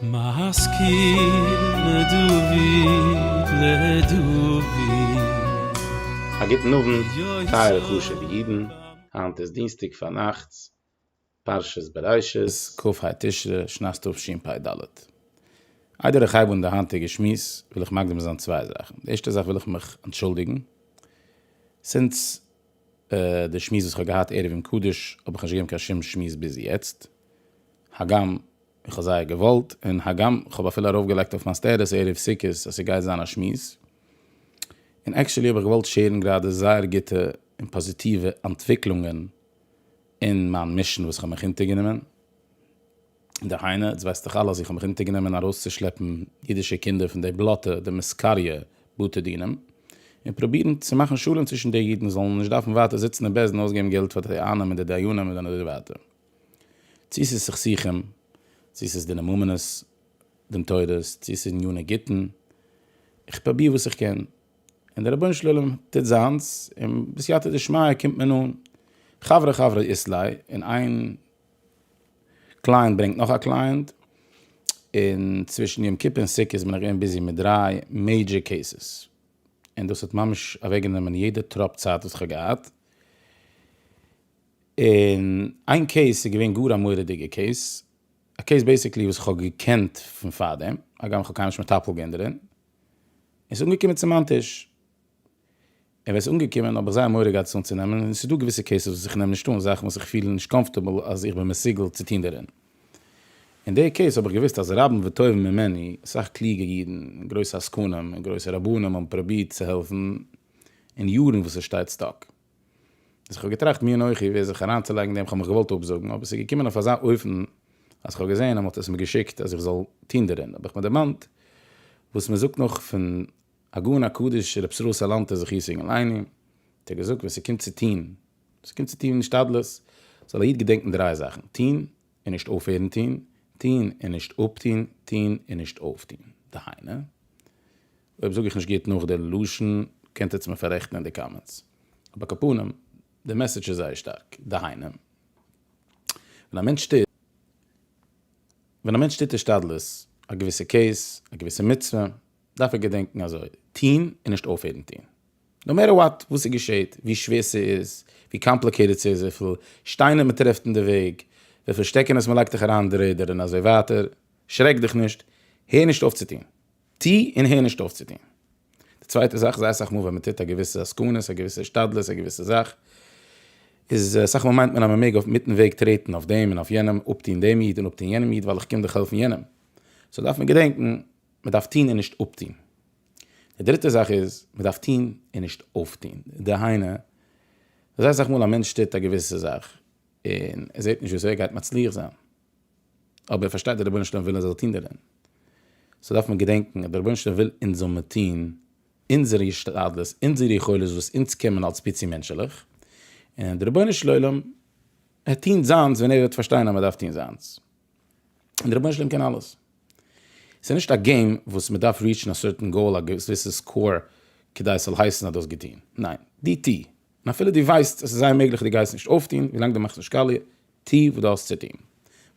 א גוטן אוונט טייערע חשובע אידן, היינט איז דינסטאג פארנאכטס פרשת בראשית, כ ה תשרי שנת תשפ ד, איידער איך הייב אן די היינטיגע שמועס וויל איך מקדים זיין צוויי זאכן, די ערשטע זאך וויל איך מיך אנטשולדיגן, סינס די שמועס וואס כ'האב געהאט ערב יום קדוש האב איך נישט געגעבן קיין שום שמועס ביז יעצט, הגם איך האב זייער געוואלט, און הגם כ'האב אפילו ארויפגעלייגט אויף מיין סטעטוס ערב סוכות אז ס'גייט זיין א שמועס, און עקשעלי האב איך געוואלט שערן גראדע זייער גוטע און פאזיטיווע אנטוויקלונגען אין מיין מישן וואס כ'האב מיך אונטערגענומען. דהיינו, איצט ווייסט דאך אלע אז איך האב מיך אונטערגענומען ארויסצושלעפן אידישע קינדער פון די בלאטע, די מסקריא בתי דינים, און פרובירן צו מאכן שלום צווישן די אידן זאלן נישט דארפן ווייטער זיצן אין בעסד און אויסגעבן געלט פאר די דיינים און די דיינים און אזוי ווייטער. צו ס'איז סכסוכים, צו ס'איז דיני ממונות, דין תורות, צו ס'איז עניני גיטין, איך פרוביר וואס איך קען, און דער רבונו של עולם טוט זיינס, און בסייעתא דשמיא קומט מען אן. חברה חברה איסלעי, און איין קלייענט ברענגט נאך א קלייענט, און צווישן יום כיפור און סוכות בין איך געווען ביזי מיט דריי מעידזשער קעיסעס, און דאס האט ממש אוועקגענומען יעדע טראפ צייט וואס איך האב געהאט, און איין קעיס איז געווען גאר א מורא'דיגע קעיס, א קעיס בעיסיקלי וואס איך האב געקענט פון פארדעם, הגם איך האב קיינמאל נישט מטפל געווען דערין, און ס'איז אנגעקומען צו מיין טיש. און ווען עס איז אנגעקומען האב איך זייער מורא געהאט עס אנצונעמען, און עס איז דא געוויסע קעיסעס וואס איך נעם נישט אן זאכן וואס איך פיל נישט קאמפארטעבל אז איך בין מסוגל צו טון דערין. אין די קעיס האב איך געוויסט אז רבים וטובים ממני, אסאך קלוגע אידן, גרויסע עסקנים, און גרויסע רבנים האבן פרובירט צו העלפן אין יארן וואס עס שטייט סטאק. אז איך האב געטראכט מי אנכי ווער זיך אריינצולייגן דעם איך האב מיך געוואלט אפזאגן אבער עס איז געקומען אויף אזא אופן אז איך האב געזען אז מען האט עס מיר געשיקט אז איך זאל טון דערין האב איך מיר דערמאנט וואס מען זאגט נאך פון הגאון הקדוש רבי ישראל סאלאנטער זכות יגן עלינו האט ער געזאגט ווען ס'קומט צו טוהן, ווען ס'קומט צו טוהן השתדלות, זאל א איד געדענקן דריי זאכן, טוהן און נישט אויפהערן טוהן, טוהן און נישט אפטוהן, טוהן און נישט אויפטוהן. דהיינו, אויב זאג איך נישט גוט נאך די לשון, קענט עטץ מיר פאררעכטן אין די קאמענטס, אבער קאפנים, די מעסעדזש איז זייער שטארק, דהיינו, ווען א מענטש טוט, ווען א מענטש טוט השתדלות, א געוויסע קעיס, א געוויסע מצוה, דארף ער געדענקן אזוי טוהן און נישט אויפהערן טוהן נאו מעטער וואט, וואס ס'געשעהט, ווי שווער ס'איז, ווי קאמפליקעיטעד ס'איז, וויפיל שטיינער מ'טרעפט אין די וועג, וויפיל שטעקענעס מ'לייגט דיך אריין אין די רעדער און אזוי ווייטער, שרעק דיך נישט, הער נישט אויף צו טוהן. טוה און הער נישט אויף צו טוהן. די צווייטע זאך, זייער אסאך מאל ווען מ'טוט א געוויסע עסקנות, א געוויסע השתדלות, א געוויסע זאך, איז אסאך מאל מיינט מען אז מ'מעג אויף מיטן וועג טרעטן אויף דעם און אויף יענעם, אפטוהן דעם איד און אפטוהן יענעם איד ווייל איך קום דאך העלפן יענעם. סאו דארף מען געדענקן מען דארף טון און נישט אפטון. די דריטע זאך איז, מען דארף טון און נישט אויפטון. דהיינו, זייער אסאך מאל א מענטש טוט א געוויסע זאך, און ער זעט נישט וויאזוי ער גייט מצליח זיין, אבער ער פארשטייט אז רבונו של עולם וויל ער זאל טון דערין. סאו דארף מען געדענקען אז דער רבונו של עולם וויל אונז זאל מען טון אונזער השתדלות, אונזער יכולת וואס אונז קענמען אלס פיצי מענטשעלעך, און דער רבונו של עולם העט טון זיינס ווען ער וועט פארשטיין אז מען דארף טון זיינס. און דער רבונו של עולם קען אלעס. ס'איז נישט א געים וואס מ'דארף ריעטשן א סערטען גאול א געוויסע סקאור כדי ס'זאל הייסן אז דו האסט געטון. ניין. דו טו. און אפילו דו ווייסט אז ס'איז זייער מעגליך דו גייסט נישט אויפטון, ווילאנג דו מאכסט נישט קאליע, טו וואס דו האסט צו טון.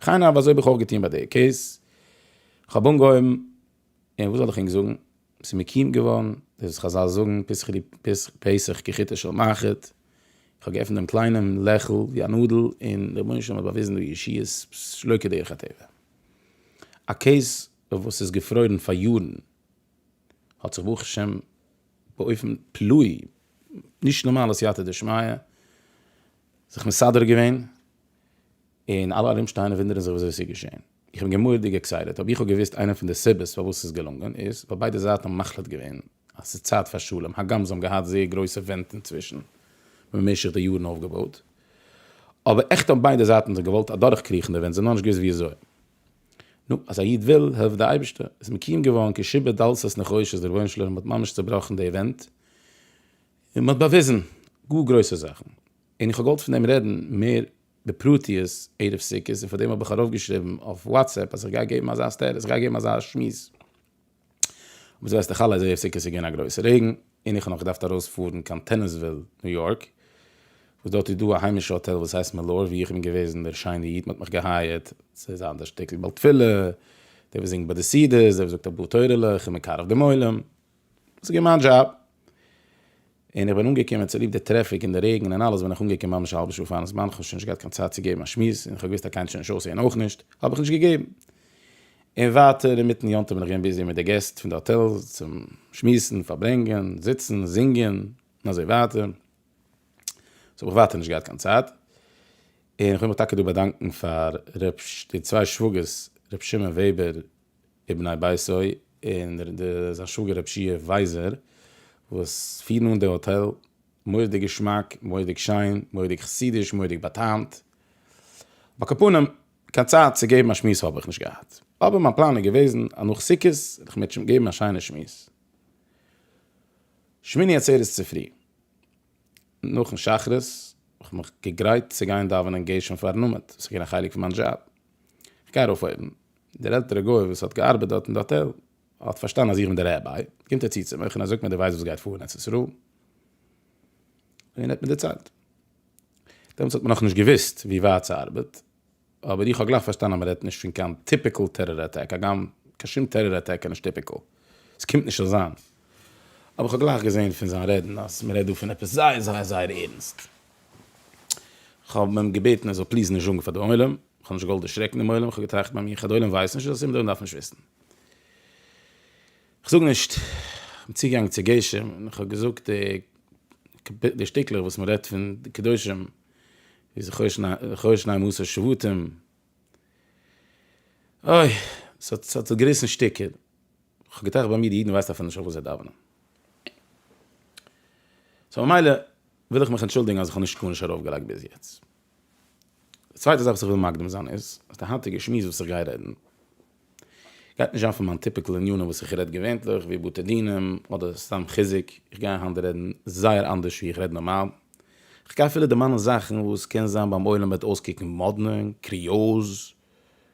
וכן הלאה אזוי האב איך אויך געטון ביי די קעיס. כ'האב אנגעהויבן, און וואס זאל איך ענק זאגן, ס'איז מקים געווארן, ווי חזל זאגן, פסח כחוטו של מחט, איך האב געעפנט דעם קליינעם לעכל ווי א נאדל און דער רבונו של עולם האט באוויזן די ישועות שלא כדרך הטבע. א קעיס וואס איז געפרוירן פאר יארן האט זיך ברוך השם באופן פלאי, נישט נארמאלע סייעתא דשמיא, זיך מסדר געווען, און אלע ארומשטייענע וואונדערן זיך ווי אזוי עס איז געשען. איך בין געמורדיג עקסייטעד, אויב איך האב געוואוסט איינע פון די סיבות פארוואס ס'איז געלונגען איז ווייל ביידע זייטן האבן מחליט געווען אז ס'איז צייט פאר שלום, הגם זיי האבן געהאט זייער גרויסע ווענט אינצווישן במשך די יארן אויפגעבויט, אבער עכט האבן ביידע זייטן זיך געוואלט אדורכקריכן די ווענט, זיי האבן נאכנישט געוואוסט וויאזוי. נו, אז א איד וויל, העלפט די אייבערשטער, איז מקיום געווארן כשבע דלתות נחושת, דער רבונו של עולם האט ממש צעבראכן די ווענט און מ'האט באוויזן גאר גרויסע זאכן, און איך האב געוואלט פון דעם רעדן מער בפרטיות ערב סוכות און פארדעם האב איך ארויף געשריבן אויף וואטסעפפ אז איך גיי געבן אזא סטעטוס איך גיי געבן אזא שמועס וואס ווייסטו חלה איז ערב סוכות איז געווען א גרויסע רעגן און איך האב נאך געדארפט ארויס פארן קיין טענעסוויל ניו יארק וואס דארט איז דא א היימישע האטעל וואס הייסט מעלאר ווי איך בין געוועזן דער שיינע איד מען האט מיך געהייערט צו זיין דער שטיקל בעל תפילה דער וואס זינגט ביי די סעודות דער וואס זאגט א פאר תורה'לעך און מקרב דעם עולם. ס'איז געווען מיין דזשאב, און איך בין אנגעקומען צוליב די טרעפיק און די רעגן און אלעס בין איך אנגעקומען ממש א האלבע שעה פארן זמן, כ'האב שוין נישט געהאט קיין צייט צו געבן א שמועס, און כ'האב געוואוסט אז קיינער וועט שוין נישט אויסהערן אויך נישט, האב איך נישט געגעבן. און ווייטער אינמיטן יום טוב בין איך געווען ביזי מיט די געסט פון די האטעל, צום שמועסן, פארברענגען, זיצן, זינגען, און אזוי ווייטער. סאו האב איך ווייטער נישט געהאט קיין צייט. און כ'וויל מיך טאקע דא באדאנקען פאר ר' די צוויי שוואגערס, ר' שמעון וועבער, ובני ביתו און זיין שוואגער רבי שיע ווייזער וואס פירן אן די האטעל, מורא'דיג געשמאק, מורא'דיג שיין, מורא'דיג חסידיש, מורא'דיג באטאמט. אבער קאפאנעם, קיין צייט צו געבן א שמועס האב איך נישט געהאט, אבער מיין פלאן איז געוועזן אז נאך סוכות וועל איך מיט געבן א שיינע שמועס שמיני עצרת צופרי נאכן שחרית, האב איך מיך געגרייט צו גיין דאווענען גשם פארן נאמעד, וואס איז געווען א חלק פון מיין דזשאב. כ'גיי ארויף אויבן. דער עלטערער גוי וואס האט געארבעט דארט אין די האטעל האט פארשטאנען אז איך בין דער רבי, קומט ער צו צו מיך און ער זאגט מיר דו ווייסט וואס גייט פאר אין ארץ ישראל? און ער האט מיר דערציילט. דעמאלטס האט מען נאכנישט געוואוסט ווי ווייט ס'ארבעט, אבער איך האב גלייך פארשטאנען אז מ'רעדט נישט פון קיין טיפיקעל טעראר אטאק, הגם קיין שום טעראר אטאק איז נישט טיפיקעל. ס'קומט נישט אזאנס. אבער כ'האב גלייך געזען פון זיין רעדן אז מ'רעדט דא פון עפעס זייער זייער זייער ערנסט. כ'האב אים געבעטן ער זאל פליז נישט זאגן פאר די עולם. כ'האב נישט געוואלט דערשרעקן דעם עולם. כ'האב געטראכט ביי מיר, כ'העל די עולם ווייסט נישט אז עס איז אומדאן דארף נישט וויסן. כ'זאג נישט. כ'בין צוגעגאנגען צו גשם און כ'האב געזאגט די די שטיקלעך וואס מ'רעדט פון די קדושים. ווי זיך חושן חושן א מס' שבטים. אוי, ס'האט זיך געריסן שטיקער. כ'האב געטראכט ביי מיר, די אידן ווייסט אפילו נישט אויף וואס זיי דאווענען. סאו ממילא וויל איך מיך אנטשולדיגן אז איך האב נישט גארנישט ארויפגעלייגט ביז יעצט. די צווייטע זאך וואס איך וויל מקדים זיין איז, אז די היינטיגע שמועס וואס איך גיי רעדן, גייט נישט זיין פון מיין טיפיקל ענינים וואס איך רעד געווענטליך ווי בתי דינים אדער סתם חיזוק, איך גיי היינט רעדן זייער אנדערש ווי איך רעד נארמאל, איך גיי אפילו דערמאנען זאכן וואס קען זיין ביים עולם וועט אויסקוקן מאדנע, קריאוז,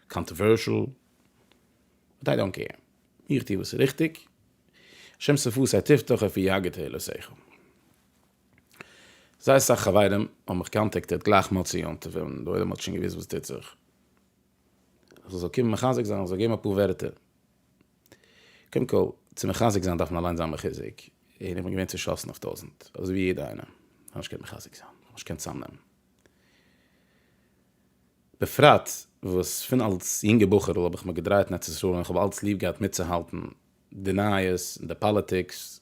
קאנטערווערשעל, באט איי דאנט קעיר, איך טו וואס איז ריכטיג, השם שפתי תפתח אפי' יגע תהלת שכל. זייער סאך חברים האבן מיך קאנטעקטעד גלייך מוצאי יום טוב ווען דער עולם האט שוין געוואוסט וואס טוט זיך, אז איך זאל קומען מחזק זיין, איך זאל געבן אפאר ווערטער. קודם כל, צו מחזק זיין דארף מען אליינס זיין מחוזק, און איך בין געווען צעשאסן אויף טויזנט, אזוי ווי יעדער איינער. איך האב נישט געקענט מחזק זיין, איך האב נישט געקענט צאמנעמען. בפרט וואס פון אלס יונגע בחור'ל האב איך מיך געדרייט אין ארץ ישראל און איך האב אלס ליב געהאט מיטצוהאלטן די נייעס און די פאליטיקס,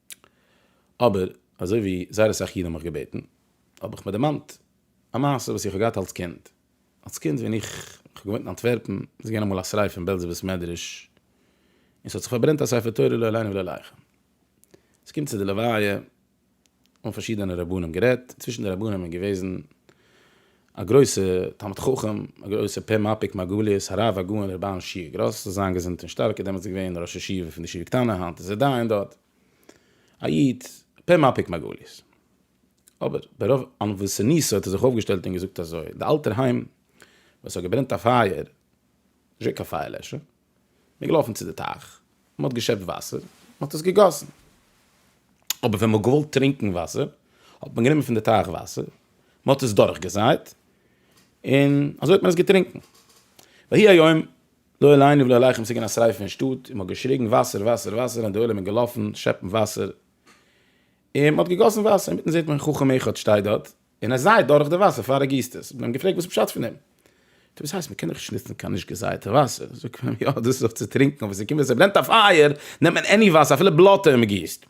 אבער אזוי ווי זייער אסאך אידן האבן מיך געבעטן, האב איך מיר דערמאנט א מעשה וואס איך האב געהאט אלס קינד. אלס קינד ווען איך האב געוואוינט אין אנטווערפן, איז געווען אמאל א שריפה אין בעלזער בית מדרש, און ס'האט זיך פארברענט א ספר תורה לא עלינו ולא עליכם. ס'קומט צו די לוויה, האבן פארשידענע רבנים גערעדט, צווישן די רבנים איז געוועזן א גרויסע תלמיד חכם, א גרויסע פה מפיק מרגליות, הרב הגאון ר' בערל שיע גראס זאל זיין געזונט און שטארק איז דעמאלטס געווען ראש ישיבה פון די ישיבה קטנה היינט איז ער דיין דארט, א איד פה מפיק מרגליות, אבער ברוב ענוות ונישא האט ער זיך אויפגעשטעלט און געזאגט אזוי, די אלטערהיים וואס האט געברענט א פייער, נישט געווען קיין פייער לעשער, מען איז געלאפן צו די טייך, מען האט געשעפט וואסער, מען האט עס געגאסן. אבער ווען מען האט געוואלט טרינקן וואסער, האט מען גענומען פון די טייך וואסער, מען האט עס דורכגעזייט, און אזוי האט מען עס געטרינקן. ויהי היום, לא עלינו ולא עליכם, ס'איז געווען א שריפה אין שטאט, און מען האט געשריגן וואסער, וואסער, וואסער, און די עולם איז געלאפן שעפן וואסער, און מען האט געגאסן וואסער, אינמיטן זעט מען חכם אחד שטייט דארט, און עס זייעט דורך די וואסער פאר ער גיסט עס, מיר האבן געפרעגט וואס איז פשט פון דעם, טא וואס הייסט מען קען דאך נישט נוצן קיין נישט געזייעטע וואסער, זאגט מען יא דאס איז דאך צו טרינקן, אבער ס'קומט ווען ס'ברענט א פייער נעמט מען עני וואסער אפילו בלאטע און מ'גיסט,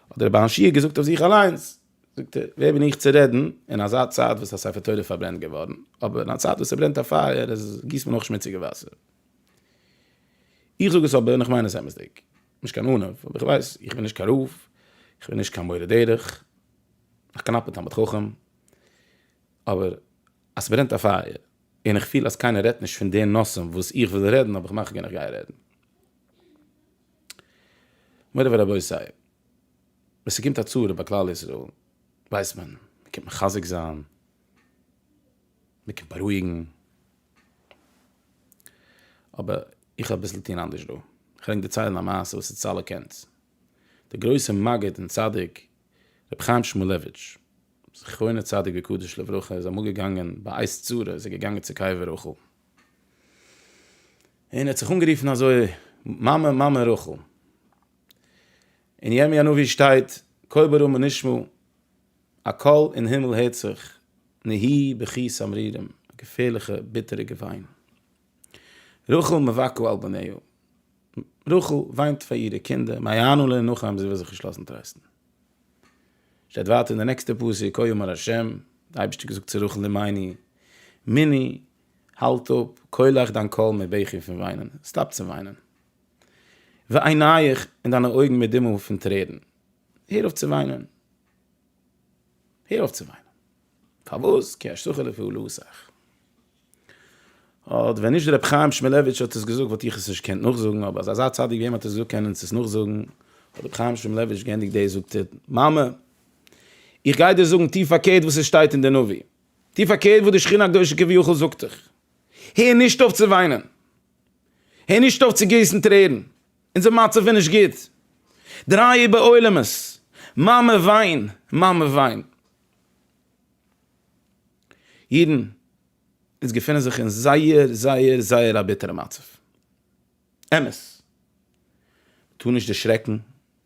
האט דער רבי השי ת געזאגט אויף זיך אליינס, זאגט ער, ווער בין איך צו רעדן אין אזא צייט וואס א ספר תורה איז פארברענט געווארן, אבער אין א צייט וואס ס'ברענט א פייער איז גיסט מען אויך שמוציגע וואסער. איך זאג עס אבער און איך מיין עס אמת'דיג, נישט קיין ענוו, אבער איך ווייס, איך בין נישט קיין רב, איך בין נישט קיין מורה דרך, א קנאפע תלמיד חכם, אבער אז ס'ברענט א פייער און איך פיל אז קיינער רעדט נישט פון די נושאים וואס איך וויל רעדן האב איך מחגין איך גיי רעדן. מורי ורבותי, ווען ס'קומט א צרה ביי כלל ישראל, ווייסט מען, מ'קומט מחזק זיין, מ'קומט בארואיגן, אבער איך האב אביסל טון אנדערש דא, כ'וועל ענק דערציילן א מעשה וואס איז צל הקענטס, דער גרויסער מגיד און צדיק רבי חיים שמולעוויטש זכרונו צדיק וקדוש לברכה איז אמאל געגאנגען ביי עת צרה איז ער געגאנגען צו קבר רחל און ער האט זיך אנגערופן אזוי מאמע מאמע רחל און ירמי' הנביא שטייט קול ברמה נשמע א קול אין הימל הערט זיך נהי בכי סמרירים א געפערליכע ביטערע געוויין. רחל מבכה על בניה, רחל וויינט פאר אירע קינדער, מה יענו לה נאכאמער זי וויל זיך נישט לאזן טרייסטן. שטייט ווייטער אין די נעקסטע פסוק כה יאמר ה', די אייבערשטער האט געזאגט צו רחל אמי מיני, האלט אפ קולך דיין קול מבכי פון וויינען, סטאפ צו וויינען, ועינייך און דיינע אויגן מדמעות פון טרערן, הער אויף צו וויינען, הער אויף צו וויינען. פארוואס כי אשתך לפעולותך. אט ווען נישט ר' חיים שמילאוויטש האט עס געזאגט וואלט איך עס נישט געקענט נאכזאגן אבער אז אזא צדיק ווי אים האט עס געזאגט קען אונז עס נאכזאגן האט ר' חיים שמילאוויטש געענדיגט דאס זאגט ער מאמע איך גיי דיר זאגן טיף פארקערט וואס עס שטייט אין די נביא טיף פארקערט וואס די שכינה הקדושה כביכול זאגט דיך הער נישט אויף צו וויינען הער נישט אויף צו גיסן טרערן אונזער מצב איז נישט גוט דריי איבער עולמות מאמע וויין מאמע וויין אידן וואס געפינען זיך אין זייער זייער זייער א ביטערע מצב, אמת, מ'טאר נישט דערשרעקן,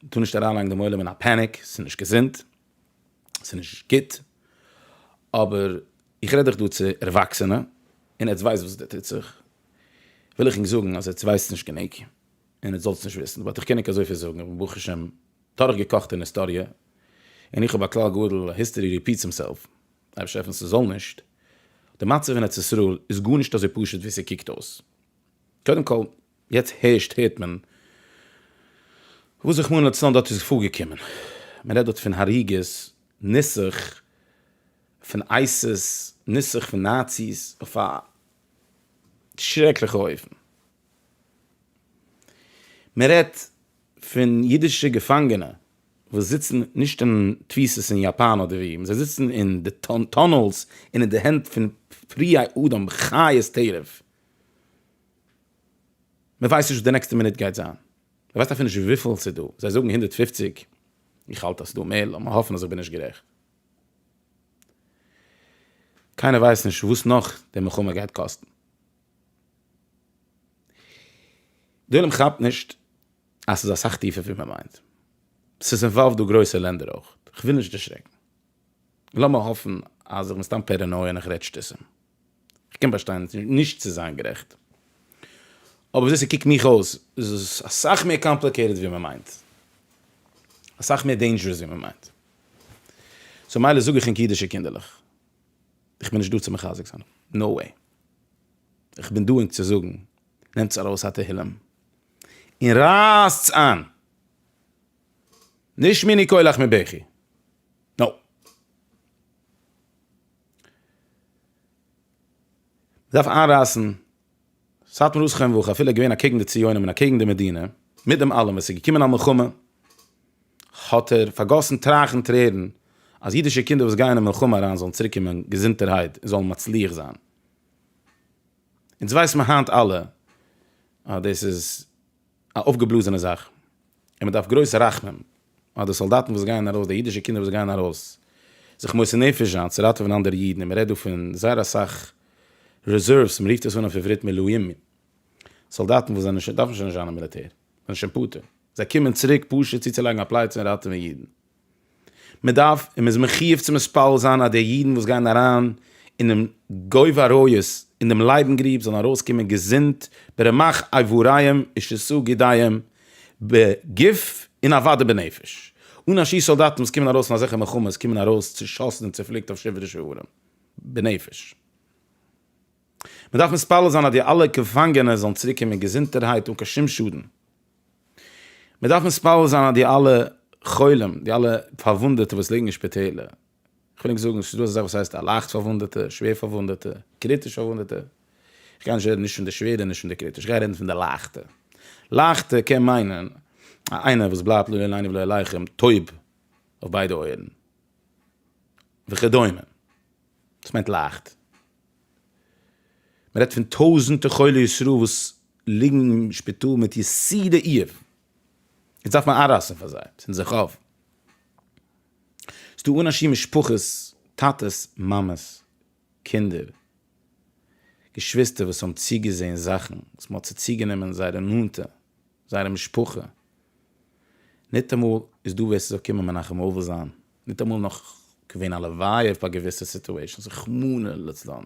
מ'טאר נישט אריינלייגן דעם עולם אין א פעניק, ס'איז נישט געזונט, ס'איז נישט גוט, אבער איך רעד דאך דא צו ערוואקסענע, און עטס ווייסט וואס דא טוט זיך, וויל איך ענק זאגן אז עטס ווייסט נישט גענוג. און עטס זאלטס נישט וויסן, וואלט איך קעניג אזויפיל זאגן, איך בין ברוך השם דורך געקאכט אין היסטאריע, און איך האב א כלל גדול, היסטארי ריפיטס הימסעלף, אייבישטער העלף אונז ס'זאל נישט, די מצב אין ארץ ישראל איז גארנישט אזוי פשוט ווי ס'קוקט אויס, קודם כל יעצט הערשט הערט מען וואס רחמנא לצלן דארט איז פארגעקומען, מען רעדט דארט פון הריגות, נוסח פון אייסיס, נוסח פון נאציס, אויף א שרעקליכע אופן, מען רעדט פון אידישע געפאנגענע וואס זיצן נישט אין תפיסות אין יאפאן אדער ווי, זיי זיצן אין די טונעלס און אין די הענט פון פראי אדם חיות טרף, מען ווייסט נישט וואס די נעקסטע מינוט גייט זיין, מען ווייסט אפילו נישט וויפיל עס איז דא, זיי זאגן הונדערט פֿופֿציק, איך האלט אז ס'איז דא מער, לאמיר האפן אז איך בין נישט גערעכט. קיינער ווייסט נישט וואס נאך די מלחמה גייט קאסטן. די עולם כאפט נישט אז ס'איז אסאך טיפער ווי מען מיינט. ס'איז אינוואלווד דא גרויסע לענדער אויך. כ'וויל נישט דערשרעקן. לאמיר האפן אז איך בין סתם פערענויע און איך רעד שטותים. כ'קען באשטיין נישט צו זיין גערעכט. אבער וויאזוי ס'קוקט מיך אויס איז עס אסאך מער קאמפליקעיטעד ווי מען מיינט. אסאך מער דעינדזשערעס ווי מען מיינט. סאו מילא זאג איך ענק אידישע קינדערלעך. איך בין נישט דא צו מחזק זיין, נאו וועי. איך בין דא ענק צו זאגן, נעמטס ארויס א תהילים און רייסטס איין. נישט מיני קולך מבכי. נאו. מ'דארף איינרייסן סאטמאר רוסכע און וואך אפילו איז געווען אקעגן די ציונים און אקעגן די מדינה, מיט דעם אלעם וואס איז געקומען א מלחמה, האט ער פארגאסן טרייך און טרערן אז אידישע קינדער וואס גייען אין מלחמה אריין זאלן צוריק קומען געזונטערהייט און זאלן מצליח זיין. אונז ווייסן מיר היינט אלע אז דאס איז. א אויפגעבלאזענע זאך, און מען דארף גרויס רחמים אויף די סאלדאטן וואס גייען ארויס, די אידישע קינדער וואס גייען ארויס זיך מוסר נפש זיין צו ראטעווען אנדערע אידן, און מען רעדט דא פון זייער אסאך רעזערוועס, מען רופט עס אן אויף עברית מילואים, סאלדאטן וואס זענען שוין, דארפן שוין נישט זיין אין מיליטער, זענען שוין פטור, זיי קומען צוריק פשוט צוצולייגן א פלייצע און ראטעווען אידן. מען דארף און מען איז מחיוב צו מספל זיין אז די אידן וואס גייען אריין אינעם גוב עריות אין דעם לייבן גריב זאלן ארויסקומען געזונט ברמח אייבוריהם ושסו גידיהם בגוף און אוודאי בנפש אן א שיעור סאלדאטן וואס קומען ארויס פון אזעלכע מלחמות קומען ארויס צושאסן און צופליקט אויף שבעה דשבורים בנפש. מען דארף מתפלל זיין אז די אלע געפאנגענע זאלן צוריק קומען געזונטערהייט אן קיין שום שאדן, מען דארף מתפלל זיין אז די אלע חולים, די אלע פארוואונדעטע וואס ליגן אין שפיטעלער, איך וויל נישט זאגן, ס'איז דא אזא זאך וואס הייסט א לייכט פארוואונדעטע, שווער פארוואונדעטע, קריטיש פארוואונדעטע, איך גיי נישט רעדן נישט פון די שווערע און נישט פון די קריטיש, איך גיי רעדן פון די לייכטע, לייכטע קען מיינען א איינער וואס בלייבט לא עלינו ולא עליכם טויב אויף ביידע אויערן וכדומה. דאס מיינט לייכט. מ'רעדט פון טויזענטע חולי ישראל וואס ליגן אין שפיטאל מיט יסודי איוב, יעצט דארף מען איינרייסן פאר זיי, צינד זיך אויף. ס'דא אנשים משפחות, טאטעס, מאמעס, קינדער, געשוויסטער וואס האבן צוגעזען זאכן וואס מ'האט צוציגענומען זייערע נאנטע, זייערע משפחה. ניטאמאל איז דא ווער ס'זאל קומען מנחם אבל זיין ניטאמאל נאך געווען א לוויה פאר געוויסע סיטועשענס רחמנא לצלן און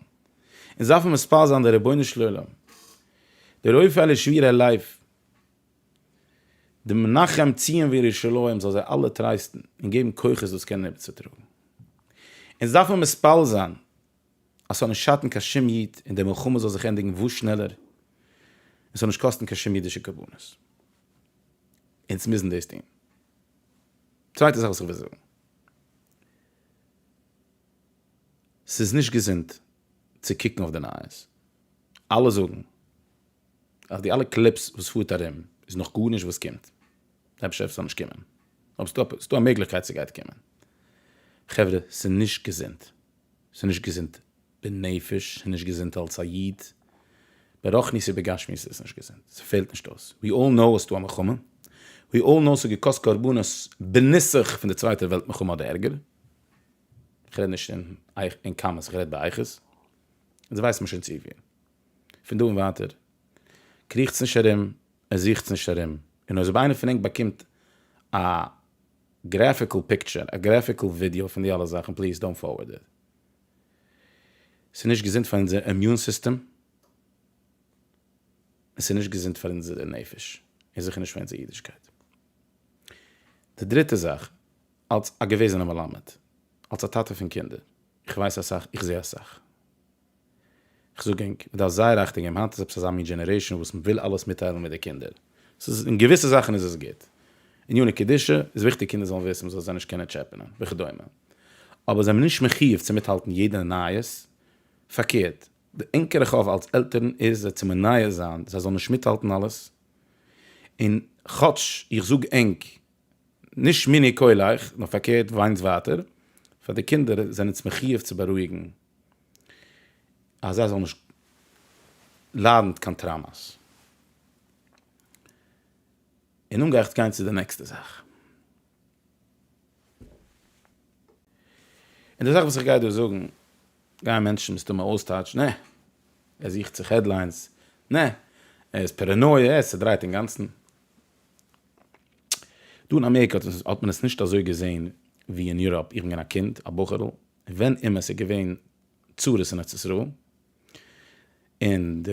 עס דארף מען מספיד זיין די רבונו של עולם די רופא אל ישמיר אל לב די מנחם ציון וירושלים זאל זיי אלע טרייסטן און געבן כוחות דאס קענען איבערצוטראגן און עס דארף מען מספיל זיין אז ס'זאל נישט שאטן קיין שום איד און די מלחמה זאל זיך ענדיגן וואס שנעלער און ס'זאל נישט קאסטן קיין שום אידישע קרבנות אונז מוזן דאס טון. צווייטע זאך וואס איך וויל זאגן. ס'איז נישט געזונט צו קוקן אויף די נייעס. אלע זאגן אז די אלע קליפס וואס פארט ארום איז נאך גארנישט וואס קומט. אפשר וועט עס נאכנישט קומען. אבער ס'איז דא א מעגליכקייט ס'גייט קומען. חברה, ס'איז נישט געזונט. ס'איז נישט געזונט בנפש, ס'איז נישט געזונט אלס א איד, ברחניות ובגשמיות איז עס נישט געזונט, ס'פעלט נישט אויס, ווי אלל נאו ס'איז דא א מלחמה, ווי אלל נאו ס'האט געקאסט קרבנות בנוסח פון די צווייטע וועלט מלחמה אדער ערגער, כ'רעד נישט אין אין כמות כ'רעד באיכות, אונז ווייסט מען שוין צופיל, פון דא און ווייטער קריכטס נישט ארום און זוכטס נישט ארום, און אויב איינער פון ענק באקומט א גרעפיקל פיקטשער, א גרעפיקל ווידיאו פון די אלע זאכן, פליז דאונט פארווארד איט. ס'נישט געזונט פאר אונזער אימיון סיסטעם, און ס'נישט געזונט פאר אונזערע נפש, און זיכער נישט פאר אונזער אידישקייט. די דריטע זאך, אלס א געוועזענע מלמד, אלס א טאטע פון קינדער, איך ווייס אסאך, איך זע אסאך. איך זאג ענק, מ'דארף זייער אכטונג געבן, היינט איז עפעס אזא מין דזשענערעישאן וואס מ'וויל אלעס מיטטיילן מיט די קינדער. ס'איז אין געוויסע זאכן איז עס גוט. עניני קדושה איז וויכטיג קינדער זאלן וויסן, מ'זאל זיי נישט קענען טשעפענען, וכדומה. אבער זיי נישט מחויב צו מיטהאלטן יעדע נייעס. פארקערט, די ענקערע חוב אלס עלטערן איז זיי צו מנייע זיין זיי זאלן נישט מיטהאלטן אלעס. און כאטש איך זאג ענק, נישט מיני קוליך, נאר פארקערט וויינטס ווייטער, פאר די קינדער זענענטס מחויב צו בארואיגן. אז זיי זאלן נישט ליידן קיין טראמאס. און נאך גיי איך גיין צו די נעקסטע זאך. און די זאך וואס איך גיי דא זאגן גייען מענטשן מסתמא אויסטייטשן, נע, ער זוכט זיך העדליינס, נע, ער איז פערענויע, ער איז צעדרייט אינגאנצן. דא אין אמעריקע האט מען עס נישט אזוי געזען ווי אין יוראפ. איך בין געווען א קינד, א בחור'ל, ווען אימער ס'איז געווען צרות אין ארץ ישראל, און די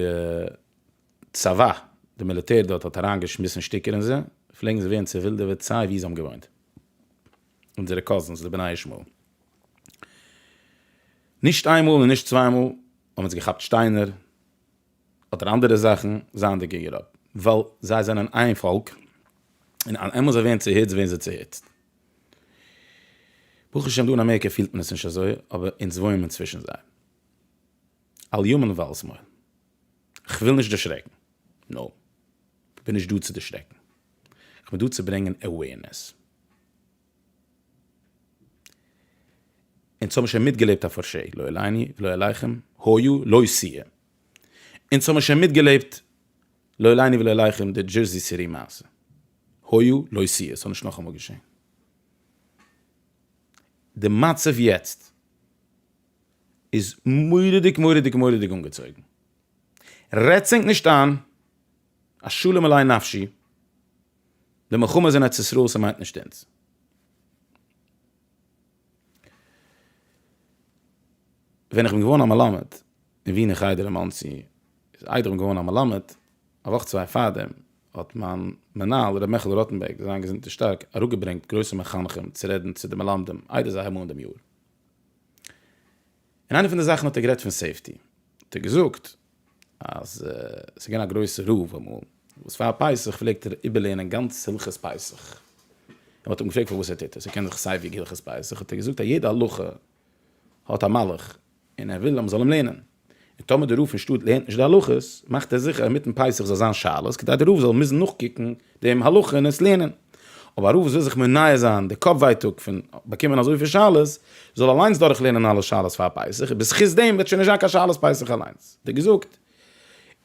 צבא, די מיליטער דארט האט אריינגעשמיסן שטיקער אין זיי, פלעגן זיי ווערן צעווילדעוועט סיי וואו זיי האבן געוואוינט. אונזערע קאזינס, די בני ישמעאל. נישט איין מאל און נישט צוויי מאל האבן זיי געכאפט שטיינער, אדער אנדערע זאכן, זייענדיג אין יוראפ. ווייל זיי זענען איין פאלק, און אלעמאל זיי ווערן צעהיצט ווערן זיי צעהיצט. ברוך השם דא אין אמעריקע פילט מען עס נישט אזוי, אבער אונז וואוינען מיר צווישן זיי. אל ימין ואל שמאל. כ'וויל נישט דערשרעקן. נאופ. כ'בין נישט דא צו דערשרעקן. כ'בין דא צו ברענגען עוועירנעס. אונז האבן שוין מיטגעלעבט א פארשעי, לא עליני ולא עליכם, היה לא שיהיה. אונז האבן שוין מיטגעלעבט, לא עליני ולא עליכם, די דזשערסי סיטי מעשה. היה לא שיהיה, ס'זאל נישט נאכאמאל געשען. די מצב יעצט איז מורא'דיג מורא'דיג מורא'דיג אנגעצויגן. רעדטס ענק נישט איין, א שלום עלי נפשי, די מלחמה איז אין ארץ ישראל, ס'מיינט נישט אונז. ווען איך בין געווארן א מלמד אין ווינער חדר אין מאנסי, איז איידער איך בין געווארן א מלמד, א וואך צוויי פארדעם האט מיין מנהל ר' מעכעלע ראטענבערג זיין געזונטער שטארק אראפגעברענגט גרויסע מחנכים צו רעדן צו די מלמדים איידער זיי האבן אן דעם יאר. און איינע פון די זאכן האט ער גערעדט פון סעיפטי, האט ער געזאגט אז ס'איז געווען א גרויסע רב אמאל וואס פאר פסח פלעגט ער איבערלערנען גאנץ הלכות פסח, און מ'האט אים געפרעגט פארוואס ער טוט עס, ער קען דאך סיי ווי הלכות פסח, האט ער געזאגט אז יעדע הלכה האט א מהלך און ער וויל אז מ'זאל אים לערנען, און טאמער די רב פון שטאט לערנט נישט די הלכות מאכט ער זיכער אז אינמיטן פסח זאל זיין שאלות כדי די רב זאל מוזן נאכקוקן דעם הלכה און עס לערנען. אויב א רב וואס וויל זיך מנער זיין די קאפ ווייטאג פון באקומען אזויפיל שאלות, זאל אליינס דורך לערנען אלע שאלות פאר פסח, און בזכות דעם וועט שוין נישט זיין קיין שאלות פסח אליינס. ווי געזאגט,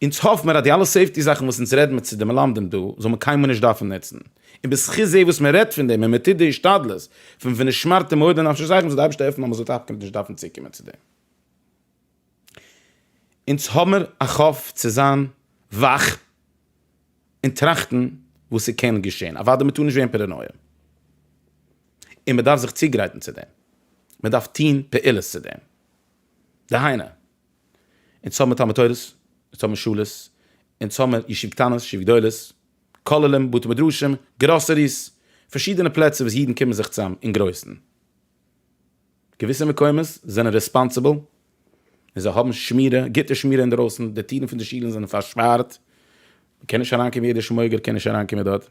אונז האף מיר אז די אלע סעיפטי זאכן וואס אונז רעדן מיט צו די מלמדים דא, זאל מען קיינמאל נישט דארפן נוצן. און בזכות זה וואס מען רעדט פון דעם און מען טוט די השתדלות פון ונשמרתם מאוד לנפשותיכם, זאל די אייבערשטער העלפן אז מען זאל תפקיד נישט דארפן צוקומען צו דעם. אונז האמער א חוב צו זיין וואך און טראכטן וואס ס'קען געשען, אוודאי מ'טאר נישט ווערן פאראנויע, און מ'דארף זיך צוגרייטן צו דעם, מ'דארף טון פעולות צו דעם, דהיינו, אונז האמער תלמוד תורה'ס, אונז האמער שולעס, אונז האמער ישיב קטנות, ישיב גדולות, כוללים, בתי מדרשים, גראסעריס, פארשידענע פלעצער וואס אידן קומען זיך צוזאם אין גרויסן. געוויסע מקומות זענען רעספאנסיבל און זיי האבן שמירה, גוטע שמירה אינדערויסן, די טירן פון די שילן זענען פארשפארט, מען קען נישט אריינקומען, יעדער שמויגער קען נישט אריינקומען דארט.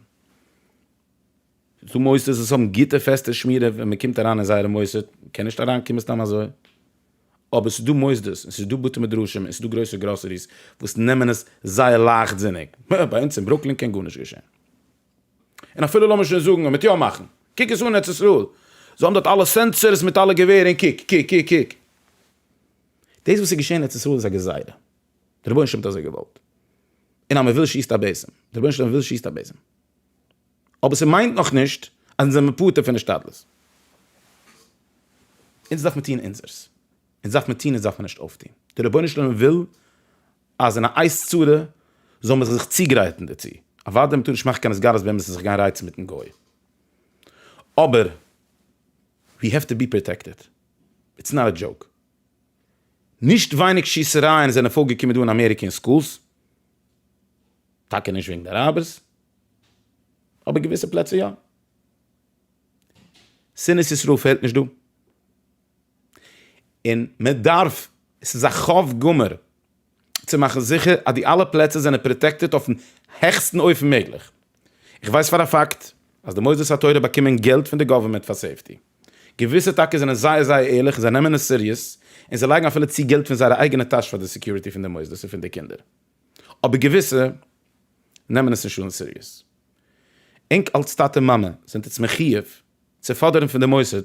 ס'איז דא מוסדות וואס האבן גוטע פעסטע שמירה ווען מען קומט אריין אין זייערע מוסד, מען קען נישט אריינקומען סתם אזוי. אבער ס'איז דא מוסדות און ס'איז דא בתי מדרשים און ס'איז דא גרויסע גראסעריס וואס נעמען עס זייער לייכטזיניג. ביי אונז אין ברוקלין קען גארנישט געשען. און אפילו לאמיר שוין זאגן ער וועט יא מאכן, קוק עס אן ארץ ישראל, זיי האבן דארט אלע סענסערס מיט אלע געווער און קוק קוק קוק קוק. דאס וואס איז געשען אין ארץ ישראל איז א גזירה, דער רבונו של עולם האט אזוי געוואלט, און אז מען וויל שיסט א בעזעם, דער רבונו של עולם וויל שיסט א בעזעם, אבער ס'מיינט נאך נישט אז אונז זעמיר פטור פון השתדלות, אונז דארף מען טון אונזערס. אונז דארף מען טון אונז דארף מען נישט אויפטון, דער רבונו של עולם וויל אז אין א עת צרה זאל מען זיך צוגרייטן דערצו, אוודאי מ'טאר נישט מאכן קיין הסגלות באמת זיך גיין רייצן מיטן גוי, אבער ווי העוו טו בי פראטעקטעד, איטס נאט א דזשאוק, נישט ווייניג שיסערייען זענען פארגעקומען דא אין אמעריקע אין סקולס, טאקע נישט וועגן די אראבערס, אבער געוויסע פלעצער יא, שנאת ישראל פעלט נישט דא. און מען דארף, עס איז א חב גמור צו מאכן זיכער אז די אלע פלעצער זענען פראטעקטעד אויפן העכסטן אופן מעגליך. איך ווייס פאר א פאקט אז די מוסדות התורה באקומען געלט פון די גאווערמענט פאר סעיפטי. געוויסע טאקע זענען זייער זייער ערליך און זיי נעמען עס סיריעס און זיי לייגן אפילו צו געלט פון זייערע אייגענע טאש פאר די סעקיוריטי פון די מוסדות און פון די קינדער. אבער געוויסע נעמען עס נישט אן סיריעס. ענק אלס טאטע מאמע זענט איצט מחיוב צו פאדערן פון די מוסד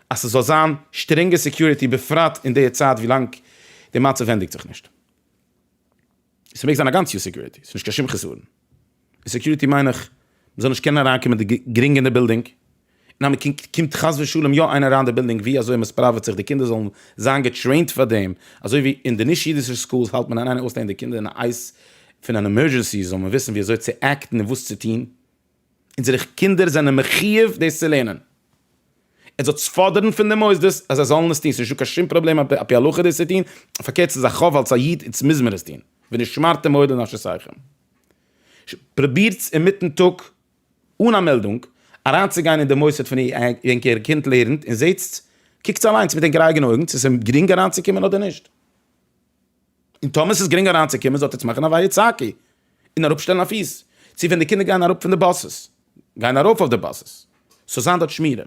אז ס'זאל זיין שטרענגע סעקיוריטי בפרט אין די צייט ווילאנג די מצב ווענדיגט זיך נישט. ס'מעג זיין א גאנץ יאר סעקיוריטי, ס'נישט קיין שום חסרון אין סעקיוריטי מיין איך מ'זאל נישט קענען אריינקומען די גרינג אין די בילדינג און אז מ'קומט חס ושלום יא איינער אריין די בילדינג ווי אזוי מ'ספראוועט זיך די קינדער זאלן זיין געטרעינט פאר דעם אזוי ווי אין די נישט אידישע סקולס האלט מען אריין און אויסלייגן די קינדער אין א עיס פון אן עמורדזשענסי זאל מען וויסן ווי אזוי צו עקטן און וואס צו טון. אונזערע קינדער זענען מחיוב דאס צו לערנען. ער זאל פאדערן פון די מוסדות אז זיי זאלן עס טון, ס'איז נישטא קיין שום פראבלעם ע פ הלכה דאס צו טון, פארקערט ס'איז א חובה אלס א איד, אונז מוז מיר עס טון, ונשמרתם מאוד לנפשותיכם. פרובירטס אינמיטן טאג אן א מעלדונג אריינצוגיין אין די מוסד פון ווען איר קינד לערנט און זעטס, קוקטס אליינס מיט ענקערע אייגענע אויגן צו ס'איז גרינג אריינצוקומען אדער נישט. און טאמער ס'איז גרינג אריינצוקומען זאלט עטס מאכן א ווייער צאקי און אראפשטעלן א פיס צו ווען די קינדער גייען אראפ פון די באסעס גייען ארויף אויף די באסעס ס'זאל זיין דארט שמירה.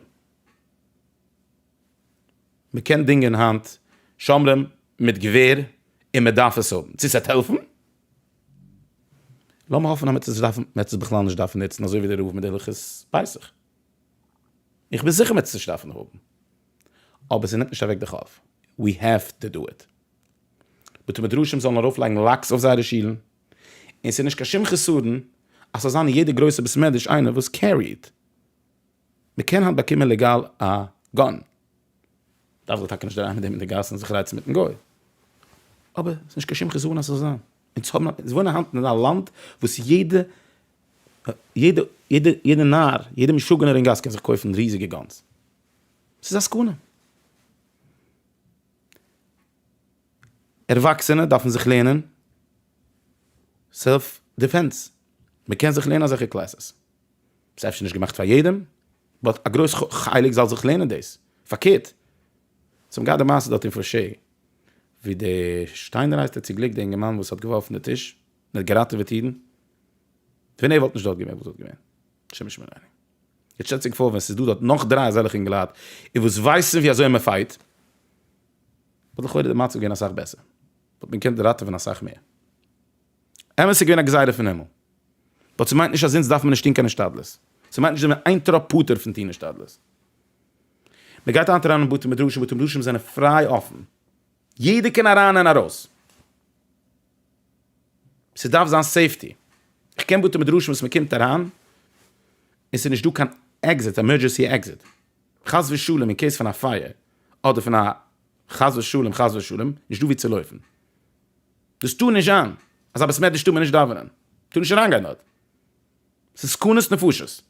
מ'קען דינגען היינט שומרים מיט געווער און מ'דארף עס האבן. צו ס'עט העלפן? לאמיר האפן אז מ'עט עס דארפן, מ'עט עס בכלל נישט דארפן נוצן אזוי ווי דער רב מיט די הלכות פסח. איך בין זיכער מ'עט עס נישט דארפן האבן. אבער ס'נעמט נישט אוועק די חוב. ווי העוו טו דא איט. בתי מדרשים זאלן ארויפלייגן לאקס אויף זייערע שילן, און ס'איז נישט קיין שום חסרון אז ס'זאל זיין אין יעדע גרויסע בית מדרש איינער וואס קעריעד. מ'קען היינט באקומען לעגאל א גאן. דארף זיך טאקע נישט דערהייבן מיט דעם אין די גאס און זיך רייצן מיטן גוי. אבער ס'איז נישט קיין שום חסרון אז ס'זאל זיין. אונז האבן, אונז וואוינען היינט אין א לאנד וואס יעדע, יעדע, יעדע נאר, יעדע משוגענער אין גאס קען זיך קויפן ריזיגע גאנס. ס'איז א סכנה. ערוואקסענע דארפן זיך לערנען סעלף דיפענס, מען קען זיך לערנען אזעלכע קלעסעס, ס'איז אפשר נישט געמאכט פאר יעדעם, באט א גרויס חלק זאל זיך לערנען דאס, פארקערט, זיי האבן געהאט די מעשה דארט אין פאר ש, ווי די שטיינער הייסט ער צו גליק די אינגערמאן וואס האט געווארפן די טיש און האט געראטעוועט אידן, ווען ער וואלט נישט דארט געווען וואס וואלט געווען? שמש מען עיני. יעצט שטעלט זיך פאר ווען ס'איז דא דארט נאך דריי אזעלכע אינגעלייט און וואס ווייסן ווי אזוי מען פייט, וואלט לכאורה די מצב געווען אסאך בעסער, וואלט מען געקענט ראטעווען אסאך מער. אמת ס'איז געווען א גזירה פון הימל, באט ס'מיינט נישט אז אונז דארף מען נישט טון קיין השתדלות, ס'מיינט נישט אז מ'איז איין טראפ פטור פון טון השתדלות. מען גייט היינט אריין אין בתי מדרשים, בתי מדרשים זענען פריי אפן, יעדער קען אריין און ארויס. ס'דארף זיין סעיפטי. איך קען בתי מדרשים וואס מ'קומט אריין און ס'איז נישט דא קיין עקזיט, עמורדזשענסי עקזיט. חס ושלום אין קעיס פון א פייער, אדער פון א חס ושלום חס ושלום, נישט דא ווי צו לויפן. דאס טאר נישט זיין אז א בית מדרש טאר מען נישט דאווענען. מ'טאר נישט אריינגיין דארט. ס'איז סכנת נפשות.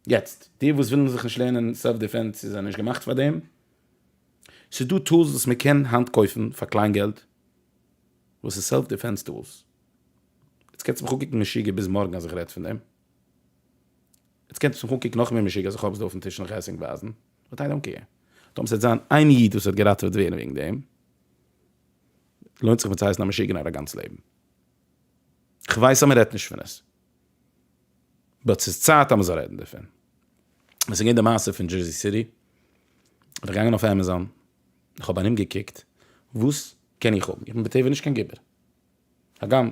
יעצט, די וואס ווילן זיך נישט לערנען סעלף דיפענס, זיי זענען נישט געמאכט פאר דעם. ס'איז דא טולס וואס מ'קען היינט קויפן פאר קליין געלט, וואס איז סעלף דיפענס טולס? יעצט קענסטו מיך אנקוקן משוגע ביז מארגן אז איך רעד פון דעם. יעצט קענסטו מיך אנקוקן נאכמער משוגע אז איך האב עס דא אויפן טיש און איך עס ענק ווייזן. באט איי דאנט קעיר. טאמער ס'וועט זיין איין איד וואס וועט געראטעוועט ווערן וועגן דעם, לוינט זיך מיר צו הייסן א משוגע נאר א גאנץ לעבן. כ'ווייס אז מ'רעדט נישט פון עס. באט ס'איז צייט אז מ'זאל רעדן דערפון. ווען ס'איז געווען די מעשה פון דזשערזי סיטי, בין איך געגאנגען אויף עמעזאן, איך האב ארומגעקוקט וואס קען איך האבן, איך בין בטבע נישט קיין גיבור, הגם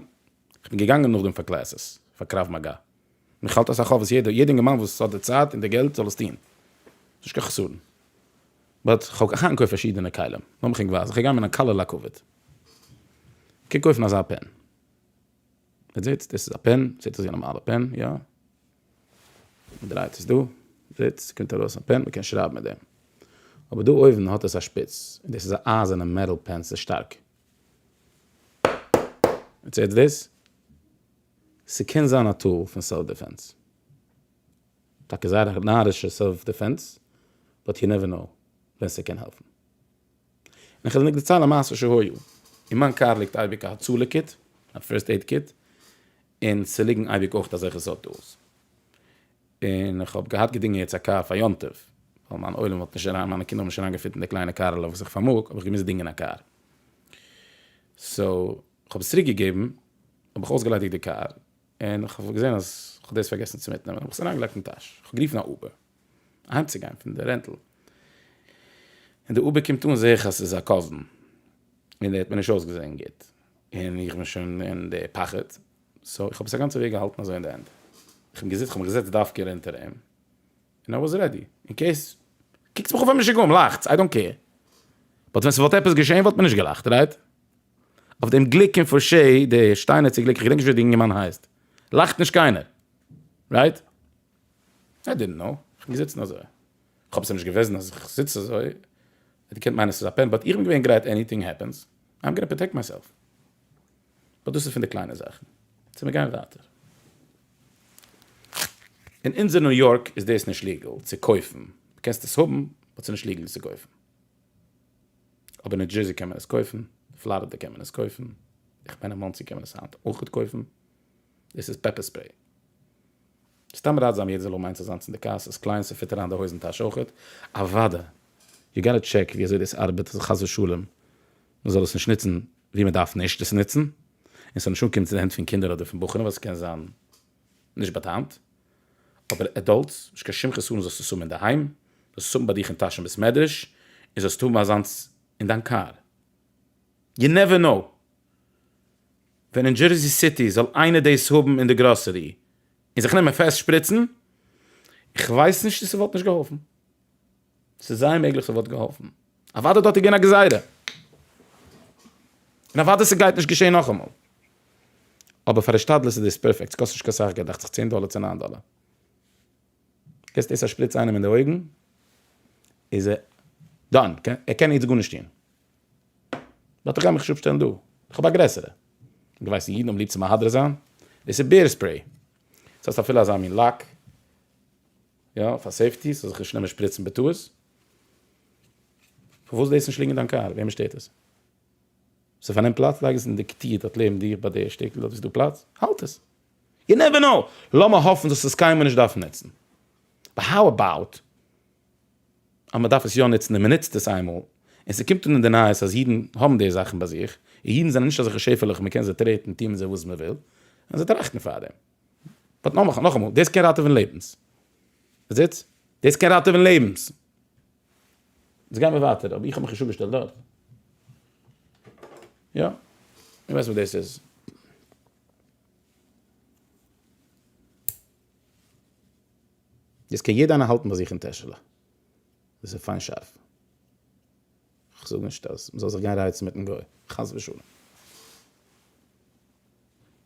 איך בין געגאנגען נאכדעם פאר קלעסעס פאר קרב מגע, און איך האלט אסאך אויף וואס יעדער יעדער אינגערמאן וואס האט די צייט און די געלט זאל עס טון, נישט קיין חסרון, באט איך האב אהנג אויף פארשידענע כלים, לאמיך ענק ווייזן, איך גיי גיין מיט א קאלער לאקוועד, קוק אויפן אזא פען, אט זעהטס, דאס איז א פען, זעהט אויס ווי א נארמאלע פען, יא? מען דרייט עס דא, פליפ, ס'קומט ארויס א פען, מען קען שרייבן מיט דעם. אבער דא אויבן האט עס א שפיץ, און דאס איז א אייזערנע מעטאל פען, ס'איז שטארק. איטס הערט דיס. ס'קען זיין א טול פון סעלף דיפענס. טאקע זייער א נארישע סעלף דיפענס, באט יו נעווער קנאו ווען ס'קען העלפן. און איך וועל ניק דערציילן א מעשה שהיה. אין מיין קאר ליגט אייביג א הצלה קיט, א פירסט עיד קיט, און ס'ליגן אייביג אויך אזעלכע סארט טולס. און איך האב געהאט געדינגען יעצט א קאר פאר יום טוב, ווייל מיין עולם האט נישט אריין, מיינע קינדער האבן נישט אריינגעפיט אין די קליינע קארעלעך וואס איך פארמאג, האב איך געמוזט דינגען א קאר. סאו, כ'האב עס צוריק געגעבן, האב איך אויסגעליידיגט די קאר, און איך האב געזען אז איך האב דאס פארגעסן צו מיטנעמען, האב איך עס אריינגעלייגט אין טאש, איך האב גערופן א אובער אהיימצוגיין פון די רענטל, און די אובער קומט אן זעה איך אז ס'איז א קאזין, און ער האט מיר נישט אויסגעזען גוט, און איך בין שוין אין די פחד, סאו איך האב עס א גאנצע וועג געהאלטן אזוי אין די הענט, איך בין געזיצן, איך האב מיך געזעצט דווקא אונטער אים, און איי וואס רעדי, אין קעיס, קוקטס מיך אן ווי א משוגעים, לאכטס, איי דאנט קעיר. באט ווען ס'וואלט עפעס געשעהן וואלט מען נישט געלאכט, רייט? אויף דעם גליק אין פארשעי, די שטיינעצע גליק, כ'געדענק נישט ווי די אינגערמאן הייסט, לאכט נישט קיינער, רייט? איי דידנט קנאו, כ'בין געזיצן אזוי. כ'האב סה נישט געוועזן אז כ'זיץ אזוי, ער קען מיינען ס'איז א פען, באט איך בין געווען גרייט עניטינג העפענס, איים גאנע פראטעקט מיי סעלף. באט דאס איז פון די קליינע זאכן. צו מיר גייען ווייטער. אין אונזער ניו יארק איז דאס נישט ליגעל צו קויפן. דו קענסט עס האבן, באט ס'נישט ליגעל עס צו קויפן. אבער ניו דזשערסי קען מען עס קויפן, פלארידע קען מען עס קויפן, איך מיין אין מאנסי קען מען עס היינט אויכעט קויפן. דאס איז פעפער ספרעי. סתם ראטזאם יעדער זאל האבן איינס אזאנס אין די קאר, ס'איז קליין, ס'פיט אריין די הויזן טאש אויכעט. אוואדע, יו גאטע טשעק ווי אזוי דאס ארבעט, אז חס ושלום מ'זאל עס נישט נוצן ווי מען דארף נישט עס נוצן, און ס'זאל נישט אנקומען צו די הענט פון קינדער אדער פון בחורים ווייל ס'קען זיין נישט באטאמט, אבער עדאלטס, נישט קיין שום חסרון זאלסטו עס האבן אינדערהיים, זאלסט עס האבן ביי דיך אין טאש אין בית מדרש, און זאלסט האבן אזאנס אין דיין קאר. יו נעווער נאו ווען אין דזשערזי סיטי זאל איינער דאס האבן אין די גראסערי און זיך נעמען פעסט שפריצן, איך ווייס נישט צו ס'וואלט נישט געהאלפן. ס'איז זייער מעגליך ס'וואלט געהאלפן. אוודאי דארט איז געווען א גזירה. און אוודאי ס'גייט נישט געשען נאכאמאל. אבער פאר השתדלות איז דאס פערפעקט. ס'קאסט נישט קיין סאך געלט, דאכט זיך צען דאלער צו ניין דאלער. קענסט עס א שפריץ איינעם אין די אויגן, איז ער דאן. ער קען יעצט גארנישט טון. באט איך גיי מיך נישט אפשטעלן דא. איך האב א גרעסערע. דו ווייסט אידן האבן ליב צו מהדר זיין. דאס איז בער ספרעי. דאס הייסט אפילו אזא מין לאק. יא, פאר סעיפטי, ס'זאל זיך נישט נעמען שפריצן בטעות. פארוואס דאס נישט ליגן אין דיין קאר? וועמען שטערט עס? ס'פארנעמט פלאץ, לייג עס אין די כתיר דארט לעבן דיר ביי די שטעקל דארט וואו ס'דא פלאץ, האלט עס. יו נעווער קנאו! לאמער האפן זאלסט עס קיינמאל נישט דארפן נוצן. באט האו אבאוט אז מ'דארף עס יא נוצן און מ'נוצט עס איינמאל, און ס'קומט אן אין די נייעס אז אידן האבן די זאכן ביי זיך, און אידן זענען נישט אזעלכע שעפעלעך מ'קען זיי טרעטן, טוהן מיט זיי וואס מ'וויל, און זיי טראכטן פארדעם. באט נאך נאך אמאל, דאס קען ראטעווען לעבנס. מען זעט? דאס קען ראטעווען לעבנס. יעצט גיימיר ווייטער, אבער איך האב מיך נישט אפגעשטעלט דארט. יא, איך ווייס וואס דאס איז. דאס קען יעדער איינער האלטן ביי זיך אין טעשעלע. דאס איז פיין שארף. איך זאג נישט אז מ'זאל זיך גיין רייצן מיטן גוי, חס ושלום.